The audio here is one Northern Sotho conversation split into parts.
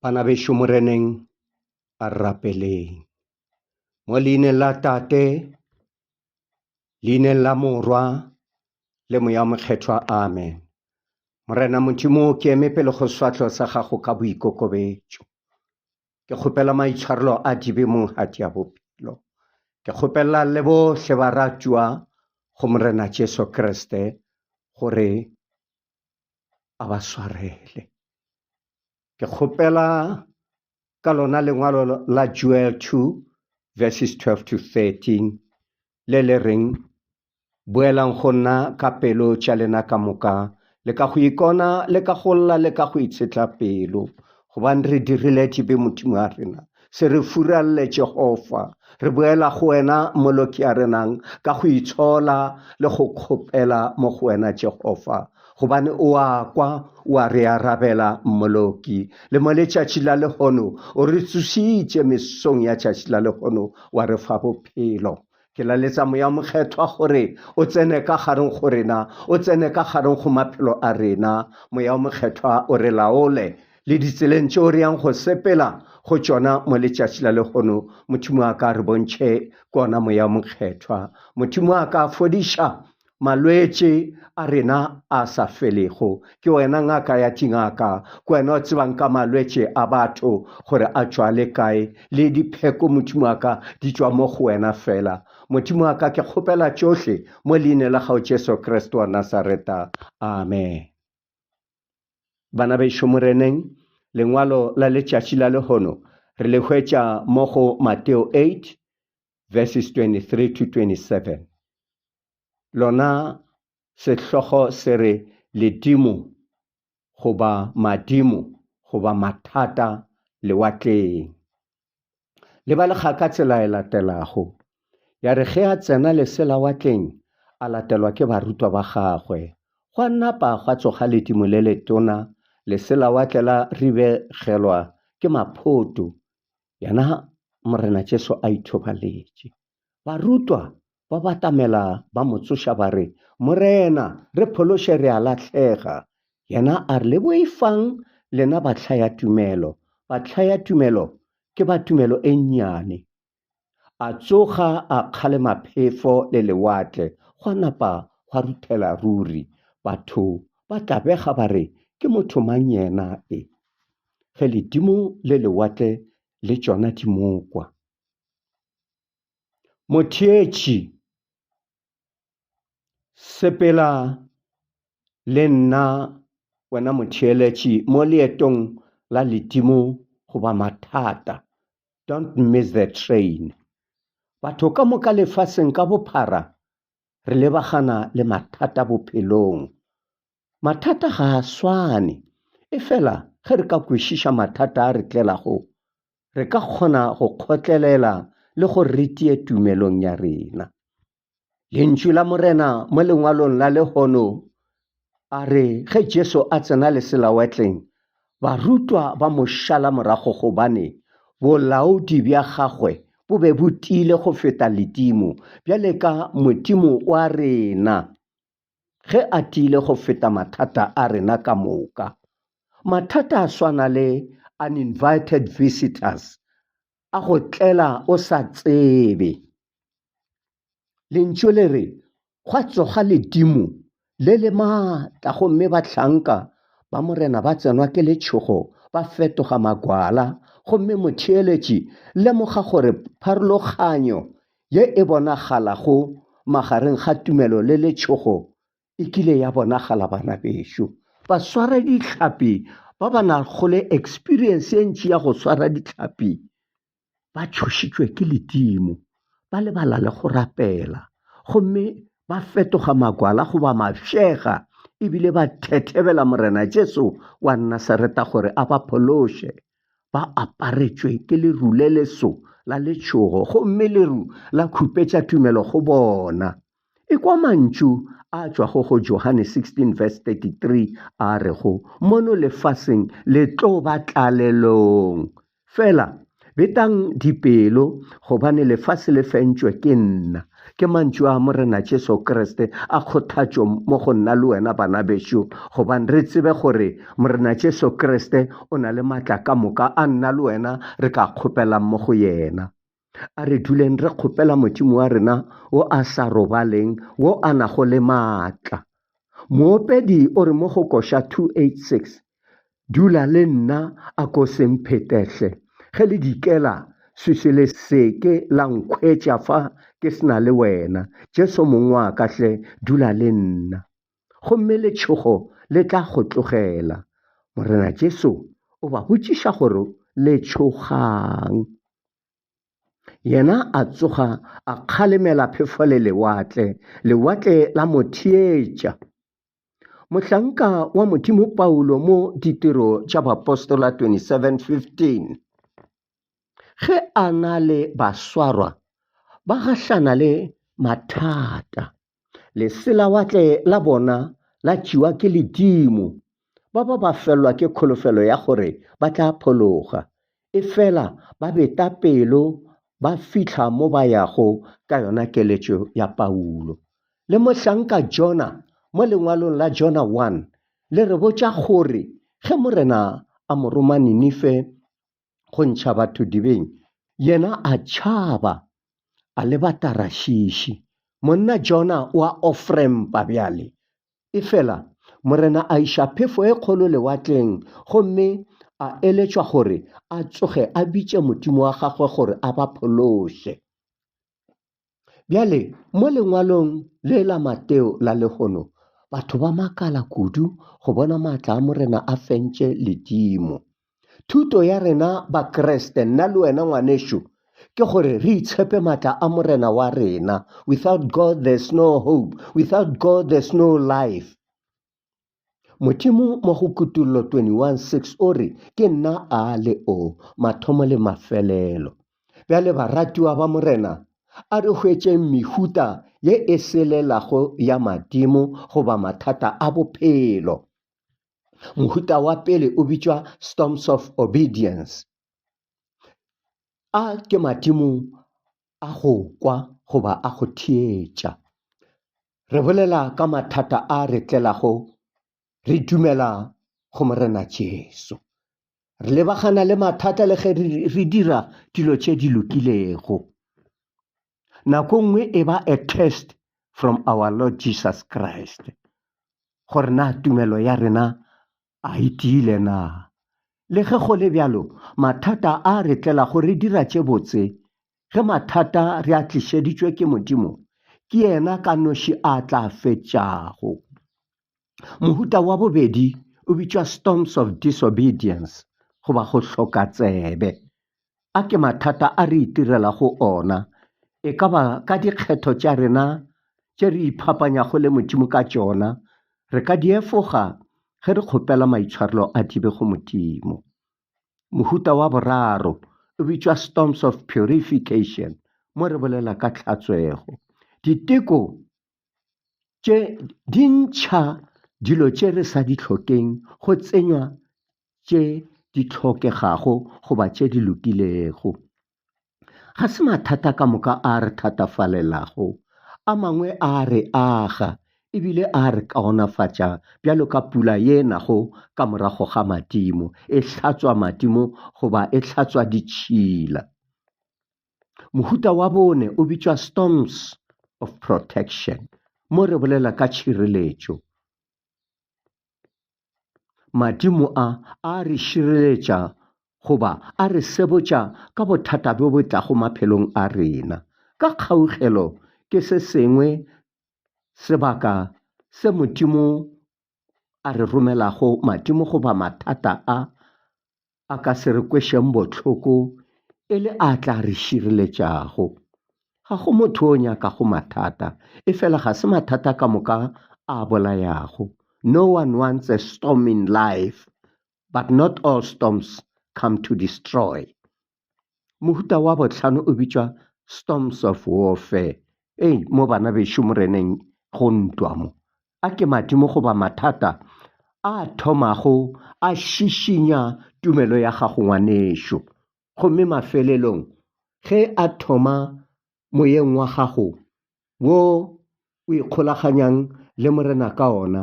Bana bešo Moreneng a rapeleng. Mo leineng la Tate, leineng la Morwa, le Moya Mokgethwa. Amen. Morena Modimo, ke eme pele go swatlho sa gago ka boikokobetšo. Ke kgopela maitshwarelo a dibe monghati ya bophelo. Ke kgopela le bohle ba ratšwa go Morena Jesu Kriste gore a ba swarele. Ke kgopela ka lona lengwalo la Joel 2 verses 12 to 13 le le reng boelang go nna ka pelo tša lena ka moka le ka go ikona le ka go lla le ka go itshetla pelo Gobane re dirile tšebe Modimo a rena, se re furalle Jehova, re boela go wena Moloki a renang ka go itshola le go kgopela mo go wena Jehova, gobane o a kwa, o a re arabela Moloki. Le mo letšatši la lehono o re tsošitše, mesong ya tšatši la lehono wa re fa bophelo. Ke laletsa Moya Mokgethwa gore o tsene ka gareng go rena, o tsene ka gareng go maphelo a rena. Moya Mokgethwa o re laole le ditseleng tšeo re yang go sepela go tšona mo letšatši la lehono. Modimo wa ka, re bontšhe kona Moya Mokgethwa. Modimo wa ka, fodiša Malwetši a rena a sa felego. Ke wena ngaka ya dingaka, ke wena o tsebang ka malwetši a batho gore a tšwa le kae, le dipheko Modimo wa ka di tšwa mo go wena fela. Modimo wa ka ke kgopela tšohle mo leine la gago Jesu Kriste wa Nasareta. Amen. Bana bešo Moreneng, lengwalo la letšatši la lehono re le hwetša mo go Mateo 8 verses 23 to 27. lona sehlogo se re ledimo goba madimo goba mathata lewatleng. Lebalega ka tsela e latelago. Ya re ge a tsena leselawatleng a latelwa ke barutwa ba gagwe. Gwa napa gwa tsoga ledimo le letona, leselawatle la ribegelwa ke maphoto, yena Morena Jesu a ithobaletše. Barutwa Ba batamela ba mo tsoša ba re, Morena, re phološe re a lahlega! Yena a re, Le boifang lena bahlaya-tumelo! Bahlaya-tumelo ke ba tumelo e nnyane! A tsoga a kgalema phefo le lewatle, gwa napa gwa ruthela ruri. Batho ba tlabega ba re, Ke motho mang yena e, ge ledimo le lewatle le tšona di mo kwa? Motheetši, sepela le nna wena motheeletši mo leetong la ledimo goba mathata, don't miss the train. Batho ka moka lefaseng ka bophara re lebagana le mathata bophelong. Mathata ga a swane, efela ge re ka kwešiša mathata a re tlelago, re ka kgona go kgotlelela le gore re tie tumelong ya rena. Lentšu la Morena mo lengwalong la lehono a re ge Jesu a tsena leselawatleng, barutwa ba mo šala morago gobane bolaodi bja gagwe bo be bo tiile go feta ledimo, bjale ka Modimo wa rena. ge a tiile go feta mathata a rena ka moka. Mathata a swana le uninvited visitors, a go tlela o sa tsebe. Lentšu le re, Gwa tsoga ledimo le le matla gomme bahlanka ba Morena ba tsenwa ke letšhogo ba fetoga magwala. Gomme motheeletši, lemoga gore pharologanyo Ye e bonagalago magareng ga tumelo le letšhogo e kile ya bonagala bana bešo. Baswara dihlapi ba ba nago le eksperiense ye ntši ya go swara dihlapi ba tšhošitšwe ke ledimo, ba lebala le go rapela gomme ba fetoga magwala goba mafšega e bile ba thethebela Morena Jesu wa Nasareta gore a ba phološe. ba aparetšwe ke leru le leso la letšhogo gomme leru la khupetša tumelo go bona. Ekwa mantšu a tšwago go Johane 16 verse 33 a rego, Mono lefaseng le tlo ba tlalelong, fela betang dipelo gobane lefase le fentšwe ke nna. Ke mantšu a Morena Jesu Kriste a kgothatšo mo go nna le wena bana bešo, gobane re tsebe gore Morena Jesu Kriste o na le matla ka moka a nna le wena re ka kgopelang mo go yena. A re duleng re kgopela Modimo wa rena wo a sa robaleng, wo a nago le matla. Moopedi o re mo go Koša 286, Dula le nna, a ko se mphetehle. Ge le dikela, swiswi le se ke la nkhwetša fa ke se na le wena. Jesu Mong wa ka hle, dula le nna. Gomme letšhogo le tla go tlogela. Morena Jesu o ba botšiša gore le tšhogang. Yena a tsoga a kgalemela phefo le lewatle, lewatle la mo theetša. Mohlanka wa Modimo Paulo mo Ditiro tša Bapostola 27:15 ge a na le baswarwa ba gahlana le mathata, leselawatle la bona la tšewa ke ledimo, ba ba ba felwa ke kholofelo ya gore ba tla phologa, Efela ba beta pelo ba fihla mo ba yago ka yona keletšo ya Paulo. Le mohlanka Jona mo lengwalong la Jona 1 le re botša gore ge Morena a mo roma Ninife go ntšha batho dibeng, yena a tšhaba, a leba Tarashishi. Monna Jona o a ofrempa bjale Efela Morena a iša phefo e kgolo lewatleng gomme a eletšwa gore a tsoge a bitše Modimo wa gagwe gore a ba phološe. Bjale, mo lengwalong le la Mateo la lehono, batho ba makala kudu go bona maatla a Morena a fentše ledimo. Thuto ya rena Bakreste, nna le wena ngwanešu, ke gore re itshepe matla a Morena wa rena. Without God there's no hope. Without God there's no life. Modimo mo go kutullo 21:6 o re, Ke nna a le o, mathomo le mafelelo. Bjale baratiwa ba Morena, a re hwetšeng mehuta ye e selelago ya madimo goba mathata a bophelo. mohuta wa pele o bitšwa storms of obedience a ke madimo a go kwa goba a go theetša re bolela ka mathata a re tlelago re dumela go morena jesu re lebagana le mathata le ge re dira dilo tše di lokilego Nako nngwe e ba a test from our Lord Jesus Christ. Gore na tumelo ya rena a e tiile na? Le ge go le bjalo, mathata a re tlela go re dira tše botse. Ge mathata re a tlišeditšwe ke Modimo, ke yena ka noši a tla fetšago. Mohuta wa bobedi o bitšwa storms of disobedience goba go hloka tsebe. A ke mathata a re itirela go ona, e ka ba ka dikgetho tša rena tše re iphapanyago le Modimo ka tšona, re ka di efoga ge re kgopela maitshwarelo a thibe go Modimo. Mohuta wa boraro o bitšwa storms of purification mo re bolela ka tlhatswego. Diteko tše di ntšha dilo tše re sa di hlokeng go tsenywa tše di hlokegago goba tše di lokilego. Ga se mathata ka moka a a re thatafalelago, a mangwe a a re aga e bile a a re kaonafatša bjalo ka pula ye e nago ka morago ga madimo, e hlatswa madimo goba e hlatswa ditšhila. Mohuta wa bone o bitšwa storms of protection mo re bolela ka tšhireletšo. Madimo a a re šireletša goba a re sebotša ka bothata bjo bo tlago maphelong a rena. Ka kgaugelo ke se sengwe sebaka se Modimo a re romelago madimo goba mathata a a ka se re kwešeng bohloko e le a tla re šireletšago. Ga go motho o nyakago mathata, efela ga se mathata ka moka a bolayago. No one wants a storm in life, but not all storms come to destroy. Mohuta wa bohlano o bitšwa Storms of Warfare. Ei, mo bana bešo moreneng go ntwa mo. A ke madimo goba mathata a thomago a šišinya tumelo ya gago ngwanešo. Gomme mafelelong, ge a thoma moyeng wa gago wo o ikgolaganyang le Morena ka ona,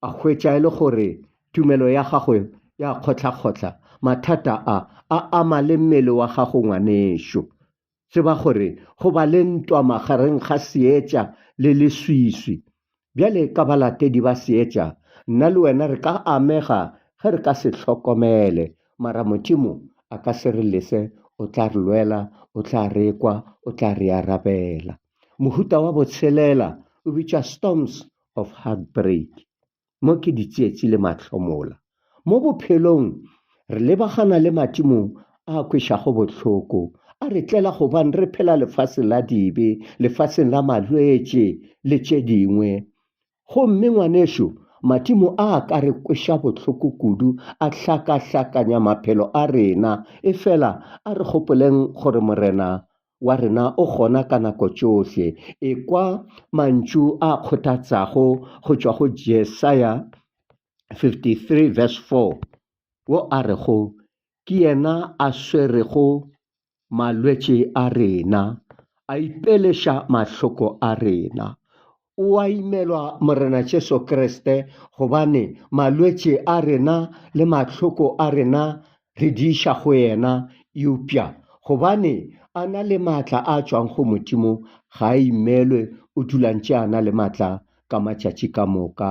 a hwetša e le gore tumelo ya gago ya kgohlakgohla, mathata a, a ama le mmele wa gago, ngwanešu. Tseba gore go ba le ntwa magareng ga seetša le leswiswi Bjale ka balatedi ba Seetša, nna le wena re ka amega ge re ka se hlokomele. Mara Modimo a ka se re lese, o tla re lwela, o tla re kwa, o tla re arabela. Mohuta wa botshelela o bitšwa storms of heartbreak, mo ke ditsietsi le mahlomola. Mo bophelong re lebagana le matimo a a kwešago bohloko, a re tlela gobane re phela lefaseng la dibe, lefaseng la malwetši le tše dingwe. Gomme, ngwanešu, matimo a a ka re kweša bohloko kudu, a hlakahlakanya maphelo a rena. Efela a re gopoleng gore Morena wa rena o gona ka nako tšohle. Ekwa mantšu a kgothatsago go tšwa go Jesaya 53 verse 4, wo a rego, Ke yena a swerego malwetši a rena, a ipeleša mahloko a rena. O a imelwa Morena Jesu Kriste gobane malwetši a rena le mahloko a rena re di iša go yena, eupša gobane a na le maatla a tšwago go Modimo, ga a imelwe, o dula ntše a na le maatla ka matšatši ka moka.